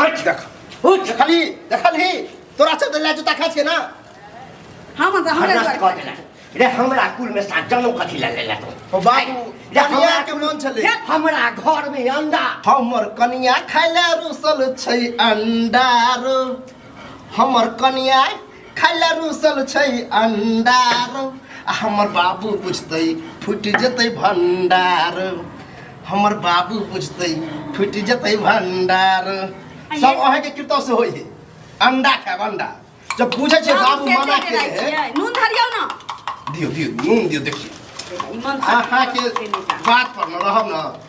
देखली देखली तोरा से तो लाजू तक के ना हम हमरा हरदस्त कह देला रे हमरा कुल में साथ जन्म कथी ला लेला तू ओ बाबू रे हमरा कनिया के मन छले हमरा घर में अंडा हमर कनिया खाइला रुसल छै अंडा रो हमर कनिया खाइला रुसल छै अंडार आ हमर बाबू बुझतै फुटि जेतै भंडार हमर बाबू बुझतै फुटि जेतै भंडार सब अहाँ के कृतव से होई है अंडा खाएब अंडा जब बुझे छै बाबू मना के है नून धरियो ना दियो दियो नून दियो देखियो अहाँ के बात पर न रहब न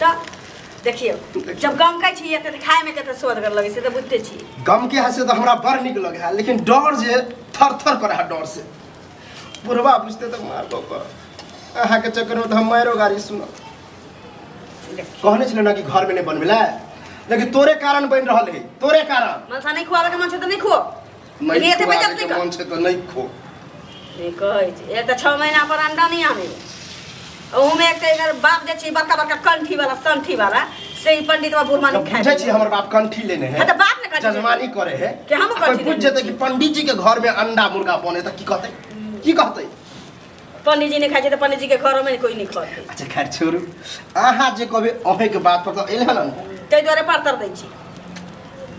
तऽ देखियौ जब गम कहै छी एते खाइमे कते सोदगर लगै छै तऽ बुझते छी गम के हँसे तऽ हमरा बड़ नीक लगे है लेकिन डर जे थर थर पर है डर से बुढ़वा बुझते तऽ मार बाबा अहाँके चक्करमे तऽ हम मारो गाड़ी सुनब कहने छलै ने कि घरमे नहि बनबै लए लेकिन तोरे कारण बनि रहल है तोरे कारण मनसा नहि खुआबैके मन छै तऽ नहि खुआओ मैं ये तो खुआ बजब के नहीं मन से तो नहीं खो ई कहै छै एक तऽ छओ महीना पर अंडा नहि आनै ओहूमे एक तऽ एकर बाप जे छै बड़का बड़का कंठी वाला संठी वाला से ई पंडित बाबा बुढ़मा जब नहि बुझे छी खाइ हमर बाप कंठी लेने है हाँ, तो बाप ने कंठी लेने जजमानी है। करे है कि हम कोई कंठी बुझ लेने जेतै कि पंडित जी के घर में अंडा मुर्गा बने त की कहतै की कहतै पंडित जी ने खाइ छै तऽ पंडित जी के घरो में कोई नहीं खाते अच्छा खैर छोड़ू अहाँ जे कहबै अहें के बात पर तऽ एले हन ताहि द्वारे पातर दै छी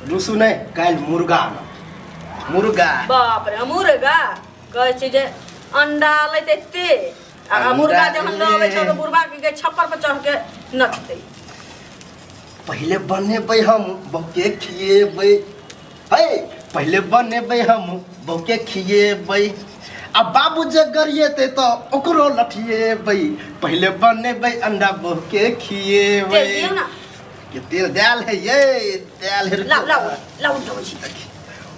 रुसु नहि काल्हि मुर्गा आनब। मुर्गा बाप रे मुर्गा कहै छी जे अंडा लै तऽ एते आ अंडा मुर्गा जहन लऽ अबै छै ले। तऽ मुर्गा के छप्पर पर चढ़ के नचतै पहिले बनेबै हम बहुते खिएबै है पहिले बनेबै हम बौके खिएबै आ बाबू जे गरिएतै तऽ ओकरो लठिएबै पहिले बनेबै अंडा बौके खिएबै तेल दियौ ने। के तेल देल है ये देल है लाउ लाउ लाउ उठाउ छी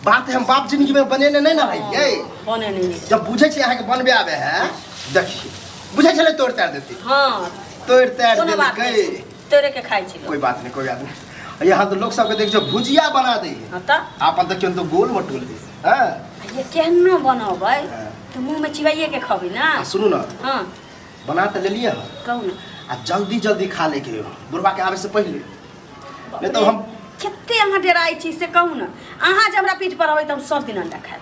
बात हम बाप जिंदगी में बनेने नहीं ना है ये बने नहि नीक। जब बुझे छे अहाँ के बनबे आवे है देखिए बुझे छले तोड़ तार देती हँ तोड़ तार कोनो बात देलकै तोरे के खाइ छी लोग। कोई बात नहीं कोई बात नहीं और यहाँ तो लोग सबके देख जो भुजिया बना दे हाँ त आपन तो क्यों तो गोल मटोल दे हाँ ये केहनो बनबै हाँ। तो मुंह में चिबाइए के खबी ना आ, सुनू ना हाँ बना तो ले लिए हम कहू ना आ जल्दी जल्दी खा ले के बुढ़वा के आवे से पहले नहीं तो हम कते अहाँ डेराइ छी से कहू ना अहाँ जे हमरा पीठ पर अबै त हम सब दिन अंडा खाएब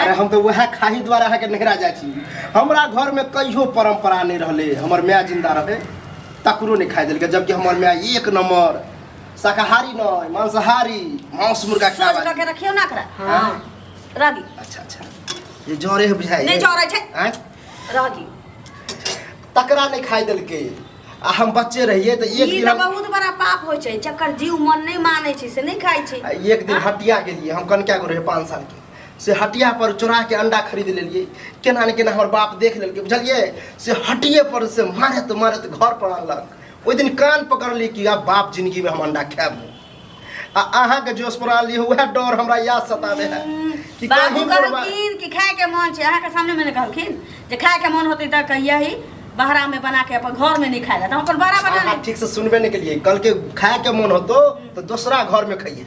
अरे हम तो वह खाही द्वारा अहाँके नहरा जाइ छी हमरा घर में कहियो परंपरा नहीं रहले हमर माय जिंदा रहे तकरो नहीं खाए देलकै जबकि हमर माय एक नंबर शाकाहारी नहीं मांसाहारी मांस मुर्गा सोच खावा करके रखियो ना करा हाँ। हां रह दी अच्छा अच्छा ये जरे है बुझाई नहीं जरे छै। आँय? रह दी तकरा नहीं खाए देलकै आ हम बच्चे रहिए तो एक ई दिन तऽ हम- बहुत बड़ा पाप होइ छै जकर जीव मन नहि मानै छै से नहि खाइ छै आ एक दिन हटिया गेलिए हम कनका गो रहे पाँच साल के से हटिया पर चोरा के अंडा खरीद लेलिए केना ने केना हमर बाप देख लेलकै बुझलिए से हटिए पर से मारत मारत घर पर अनलक ओहि दिन कान पकड़ली कि आब बाप जिंदगी में हम अंडा खाएब आ अहाँके जोश पर आनली वएह डर हमरा याद सताबे है कि बाबू कहीं पर बा- कहलखिन कि खाए के मन छै अहाँके सामने मैंने कहलखिन जे खाए के मन होतै तऽ कहिया ही बहरा में बना के अपन घर में नहीं खाए जाता अपन बहरा बना अहाँ ले ठीक से सुनबे नहीं के लिए कल के खाए के मन होतो तो दूसरा घर में खाइए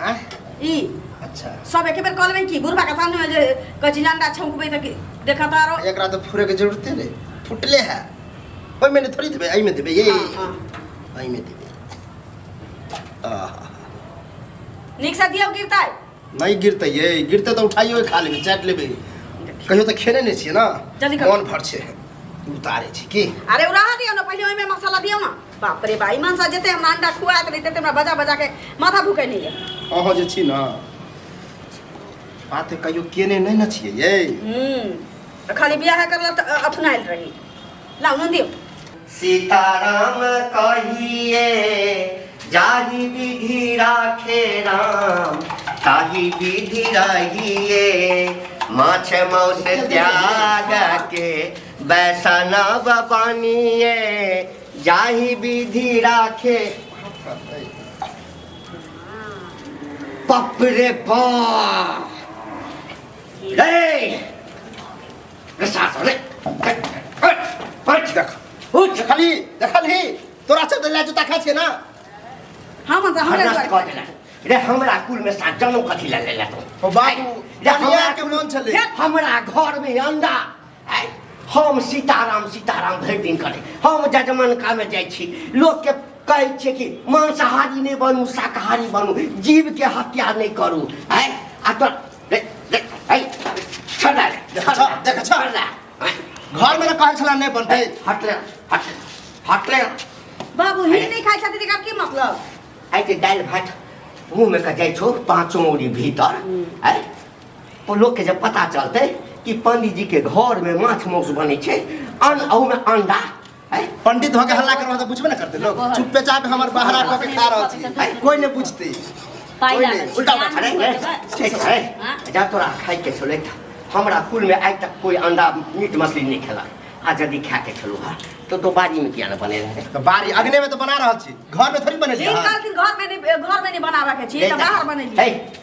आ ई अच्छा सब एके बेर कॉल में की बुढ़वा के सामने में जे कची अंडा छौंकबे त की देखा तारो एकरा तो फुरे के जरूरत है फुटले है ओई में थोड़ी देबे आई में देबे ये हाँ, हाँ। आई में देबे आहा निक से दियो गिरता है नहीं गिरते ये गिरते तो उठाइयो खा लेबे चाट लेबे कहियो तो खेने नहीं छिए ना जल्दी करो। मन भर छे उतारे छी की अरे उ रहा दियो ना पहले ओई में मसाला दियो ना बाप रे बा ई मनसा जेते हमरा अंडा खुआत रही तेते हमरा बजा बजा के माथा भूके नहीं है अहाँ जे छी ने बात कहियो केने नहि ने छियै यै हम्म खाली बियाह करला त अपनाइल रही लाओ नंदी सीताराम कहिए जाहि विधि राखे राम ताहि विधि रहिए माछ मौस त्याग के बैसनब बनिए जाहि विधि राखे बाप रे बाप रे सास रे पट देख उठ देखली देखली तोरा से देला जूता खा छे ना हम हमरा हमरा कह देला रे हमरा कुल में साथ जन्म कथी ले लेला तो ओ बाबू रे हमरा के मन छले हमरा घर में अंडा आइ हम सीताराम सीताराम भरि दिन करै हम जजमनकामे जाइ छी लोकके कहै छियै कि मांसाहारी नहि बनू शाकाहारी बनू जीवके हत्या नहि करू आइ आ तो रे, रे, आइ, छोड़ रे, देखा छोड़, जा, देखा जा। छोड़ जा। आइ, घर में कहल छला नहीं बनते आइ, हट रे, हट रे, हट रे। बाबू हिन्दी नहीं खाए छथिन एकर की मतलब आइ ते दालि भात मुँहमे के जाइ छौ पाँचो औरी भीतर आइ ओ लोकके जब पता चलतै कि पंडीजीके घरमे माछ मौस बनै छै अन अहूमे अंडा है पंडित होके हल्ला करबा तऽ बुझबे ने करतै लोग चुपे चाप हमर बहरा कऽ के खा रहल छी है कोई नहि बुझतै पाइ कोई लागल नहि छै। उल्टा उल्टा अरे खड़े ए, ठीक है हाँ? जा तोरा खाइके छलो एकटा हमरा कुलमे आइ तक कोई अंडा मीट मछली नहि खेला आ यदि खाके छलो हा तो तो बाड़ीमे किया नहि बने रहे तऽ बारी अग्ने में तऽ बना रहल छी घर में थोड़ी बनेलियै ई हँ। कहलखिन घर में नहीं घर में नहीं बनाबे के छी तऽ बाहर बनेलियै है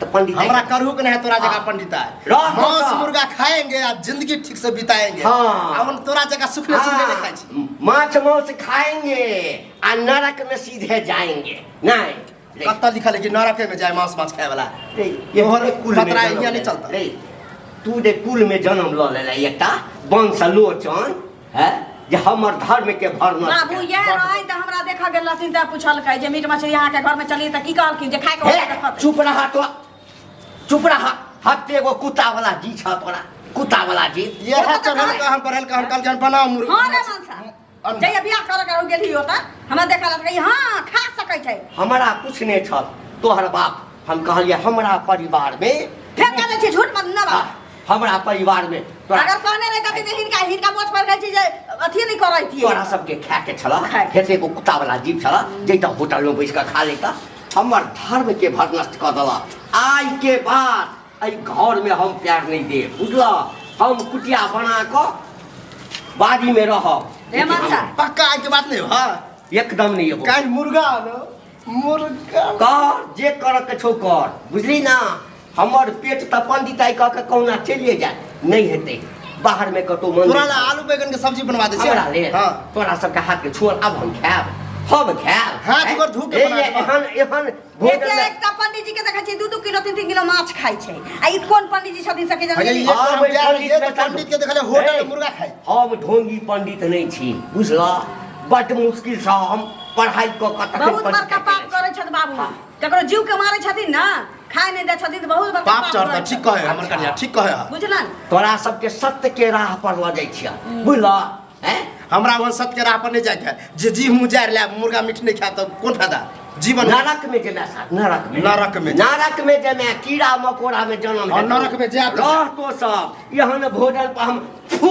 तो पंडित हमरा करू के नहीं है तोरा जगह हाँ। पंडिता है रह मांस मौसा। मुर्गा खाएंगे आप जिंदगी ठीक से बिताएंगे हाँ। अब हम तोरा जगह सुखले सुखले नहीं खाई छी। माछ मांस खाएंगे आ नरक में सीधे जाएंगे नहीं ले, कत्ता लिखल है कि नरके में जाए मांस मांस खाए वाला ले, ये तोहर तोहर कुल में खतरा जन्म यहाँ नहीं लेला। चलता। ले, तू दे कुल में जन्म लऽ लेला एकटा बंश लोचन हैं जे हमर धर्म के भरना बाबू यह रहे त हमरा देखा गेल रहथिन त पूछलकै जे मीट मछली अहाँ के घर में चली त की कहलखिन जे खाए के हे, होतै त खतै। चुप रहा तो चुप रहा हत्ते एगो कुत्ता वाला जी छ तोरा कुत्ता वाला जी ये है चढ़ल का हम पढ़ल का हम कल जन बनाओ मुर्गी हां रे मनसा अन- जय बियाह कर कर हो गेली होता हमरा देखा लगे हां खा सकै छै हमरा कुछ नहीं छल तोहर बाप हम कहलिए हमरा परिवार में फेर कहले छै झूठ मत न बाबा हमरा परिवार में तोरा अगर कहने रहे कथी हिनका हिनका मोछ पर कहै छी जे अथी नहीं करै छी तोरा सबके खाए के छला खाए के। खेते को कुत्ता वाला जीव छला जैता होटल में बैस के खा लेता हमर धर्म के भरनष्ट कर दला आइ के बाद एहि घर में हम प्यार नहीं दे बुझला हम कुटिया बना के बाड़ी में रह ए माता पक्का आज के बात नहीं हो हाँ एकदम नहीं एबो काल मुर्गा आलो मुर्गा कर जे करऽ के छौ कर बुझली ना हमर पेट तऽ पंडिताई कह के कहुना चलिए जाय नहि हेतै बाहर में कतौ मन तोरा ला आलू बैगन के सब्जी बनवा दे हमरा ले हां तोरा सबके हाथ के छोड़ अब हम खाएब हम खाएब हाथ पर धो के बना देबा। एहन एहन भोजन एते में- एक तऽ पंडीजी के देखै छियै दू दू किलो तीन तीन किलो माछ खाइ छै आ ई कोन पंडीजी छथिन सके अरे ये जान और हम जा रहे हैं, पंडित तो पंडित के देखले होटल ए, में मुर्गा खाए हम ढोंगी पंडित नहीं छी बुझला बट मुश्किल से हम पढ़ाई क क तखन बहुत बड़का पंचायत पाप करै छथि बाबू हाँ। ककरो जीव के मारै छथिन ना खाए नहीं दै छथिन तऽ बहुत बड़का पाप पाप चढ़ करै ठीक छथि। कहे हमर कन्या ठीक कहे बुझलन तोरा सबके सत्य के राह पर लऽ जाइ छिया बुझला हैं हमरा वन सत के राह पर नहीं जाके जे जी मुँह जाए ले मुर्गा मीट नहीं खाए तो कौन फायदा जीवन नरक में जेना साथ नरक में नरक में। नरक में जेना कीड़ा मकोड़ा में जन्म और लेतौ। नरक में जायब तऽ- रहतो सब यहाँ ने भोजन पर हम फू